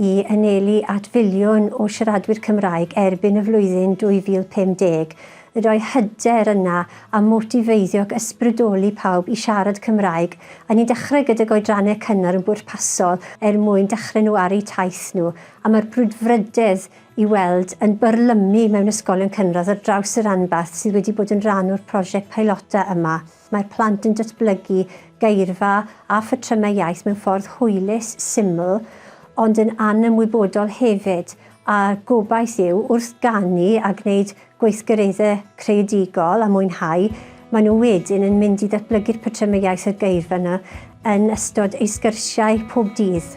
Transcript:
i anelu at filiwn o siaradwyr Cymraeg erbyn y flwyddyn 2050, y rhoi hyder yna a motifeiddio ac ysbrydoli pawb i siarad Cymraeg, a ni'n dechrau gydag oedrannau cynnar yn bwrpasol er mwyn dechrau nhw ar eu taith nhw, a mae'r brwdfrydedd i weld yn byrlymu mewn ysgolion cynradd ar draws y ranbarth sydd wedi bod yn rhan o'r prosiect peilota yma. Mae plant yn datblygu geirfa a phatrymau iaith mewn ffordd hwylus, syml, ond yn anymwybodol hefyd, a'r gobaith yw, wrth ganu a gwneud gweithgareddau creadigol a mwynhau, maen nhw wedyn yn mynd i ddatblygu'r patrymau iaith a'r geirfa yna yn ystod eu sgyrsiau pob dydd.